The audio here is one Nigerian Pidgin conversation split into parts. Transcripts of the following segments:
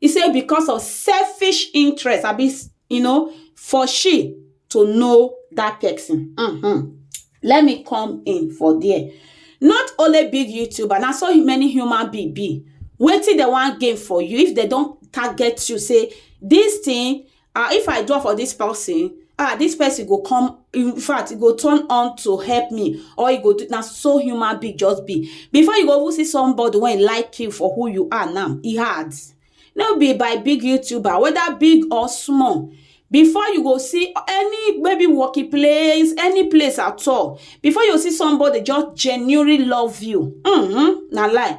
He say because of selfish interest abi you know for she to know that person. Mm-hmm. Let me come in for there. Not only big YouTuber, na so many human being be. Wetin dem wan gain for you if dem don target you say this thing ah if i draw for this person ah this person go come in fact e go turn on to help me or e go do na so human being just be before you go even see somebody wey like you for who you are now e hard no be by big youtuber whether big or small before you go see any maybe working place any place at all before you see somebody just genuinely love you mm -hmm, na lie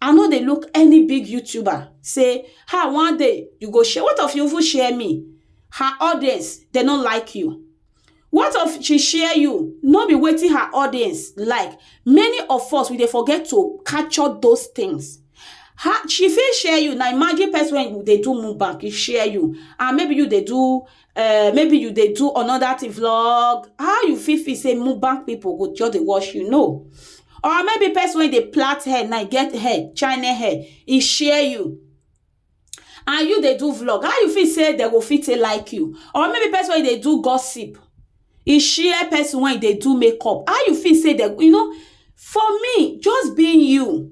I no dey look any big YouTuber say, ha, one day you go share. What of you even share me? Her audience, they no like you. What of she share you? No be waiting her audience like. Many of us, we dey forget to capture those things. Her, she fit share you. Now imagine person when you dey do mukbang, he share you. And maybe you dey do uh, maybe you dey do another thing vlog how you fit feel say mubang people go just dey watch you no or maybe person wey dey plait hair na get hair china hair e share you and you dey do vlog how you feel say dem go fit take like you or maybe person wey dey do gossip e share person wey dey do makeup how you feel say dem you know for me just being you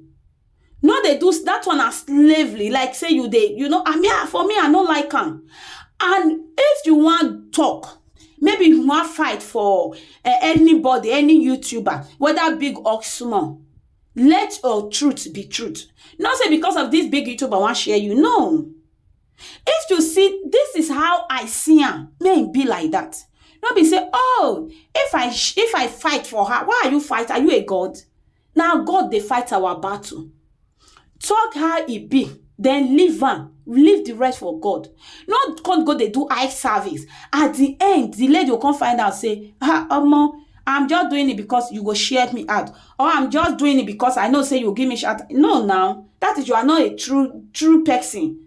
no dey do that one na slavery like say you dey you know i mean ah, for me i no like am and if you wan talk maybe you wan fight for eh, anybody any youtuber whether big or small let your truth be truth not say because of this big youtuber wan share you no if you see this is how i see am may e be like that no be say oh if i sh- if i fight for her why are you fight are you a god Na God dey fight our battle. Talk how e be, then leave am, leave the rest for God. No come go dey do eye service. At the end, the lady go come find out say, ah, omo, I'm just doing it because you go share me out. Or I'm just doing it because I know say you give me shout. No now, that is you are not a true true person.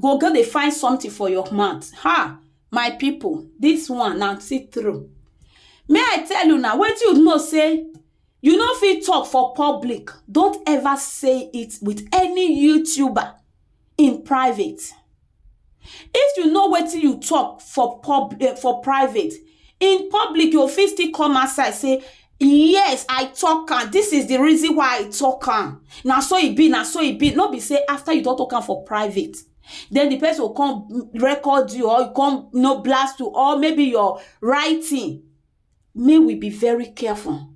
go go dey find something for your mouth ha my people this one na see through may i tell you na wetin you know say you no fit talk for public don't ever say it with any youtuber in private if you know wetin you talk for pub eh, for private in public you fit still come outside say yes i talk am this is the reason why i talk am na so e be na so e be no be say after you don talk am for private then the person go come record you or come you know, blast you or maybe your writing may we be very careful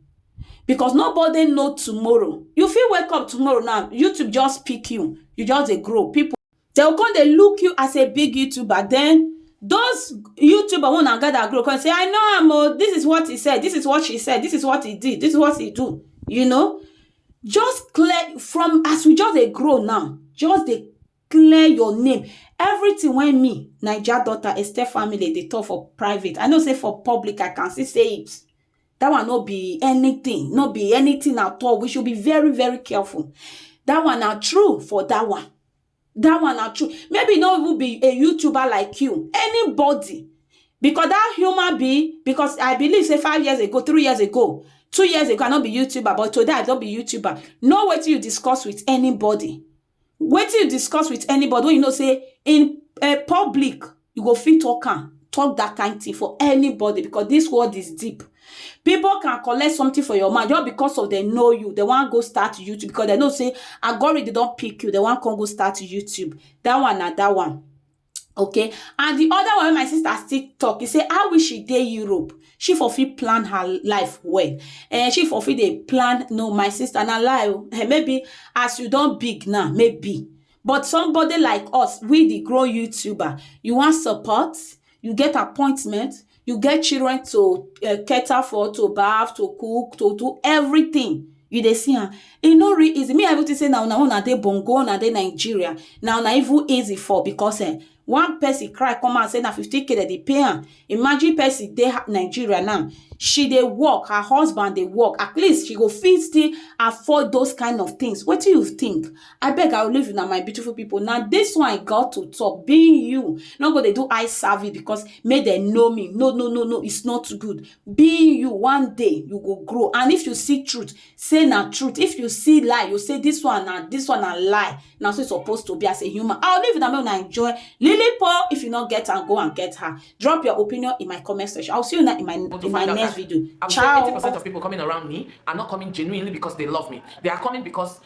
because nobody know tomorrow you fit wake up tomorrow now youtube just pick you you just dey grow people dey go come dey look you as a big youtuber then those youtuber wey una gather group come say I know am o this is what he said this is what she said this is what he did this is what he do you know just clear from as we just dey grow now just dey clear your name everything wey me naija daughter esther family dey talk for private I know say for public I can still say it that one no be anything no be anything at all we should be very very careful that one na true for that one that one na true maybe no even be a youtuber like you anybody because that human being because i believe say five years ago three years ago two years ago i no be youtuber but today i don be youtuber know wetin you discuss with anybody Wetin you discuss with anybody wey you know say in um public you go fit talk am talk that kind thing for anybody because this world is deep people can collect something for your mind just because of dem know you dem wan go start YouTube because dem know say algorithm don pick you dem wan come go start YouTube that one na that one okay and the other one wey my sister still talk e say how wish she dey europe she for fit plan her life well eh she for fit dey plan no my sister na lie o eh, maybe as you don big now maybe but somebody like us we the grown youtuber you wan support you get appointment you get children to um cater for, to bath, to cook, to do everything. You dey see am. E no real easy. Me I even think say na una una dey bongo, una dey Nigeria. Na una even easy for because um one person cry come out say na fifteen K dem dey pay am. Imagine person dey Nigeria now, she dey work, her husband dey work. At least she go fit still afford those kind of things. Wetin you think? Abeg I will leave una my beautiful people. Na this one I got to talk. Being you, no go dey do eye service because make dem know me. No, no, no, no, it's not good. Being you, one day you go grow. And if you see truth, say na truth. If you see lie, you say this one na this one na lie. Na so it's supposed to be as a human. I will leave una make una enjoy. Lily Paul, if you not get her, go and get her. Drop your opinion in my comment section. I will see you now in my want to in my find out next that video. I would say 80% Ciao. of people coming around me are not coming genuinely because they love me. They are coming because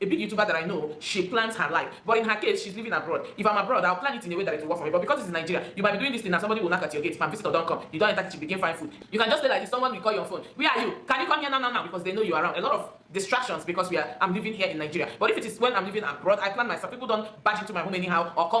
A big youtuber that I know she plans her life but in her case she's living abroad if I'm abroad I'll plan it in a way that it will work for me but because it's in Nigeria you might be doing this thing and somebody will knock at your gate fam visitor don come you don enter kitchen begin find food you can just stay like this someone will call you on phone where are you can you come here now now now because they know you around a lot of distractions because we are I'm living here in Nigeria but if it is when I'm living abroad I plan myself people don't barge into my home anyhow or come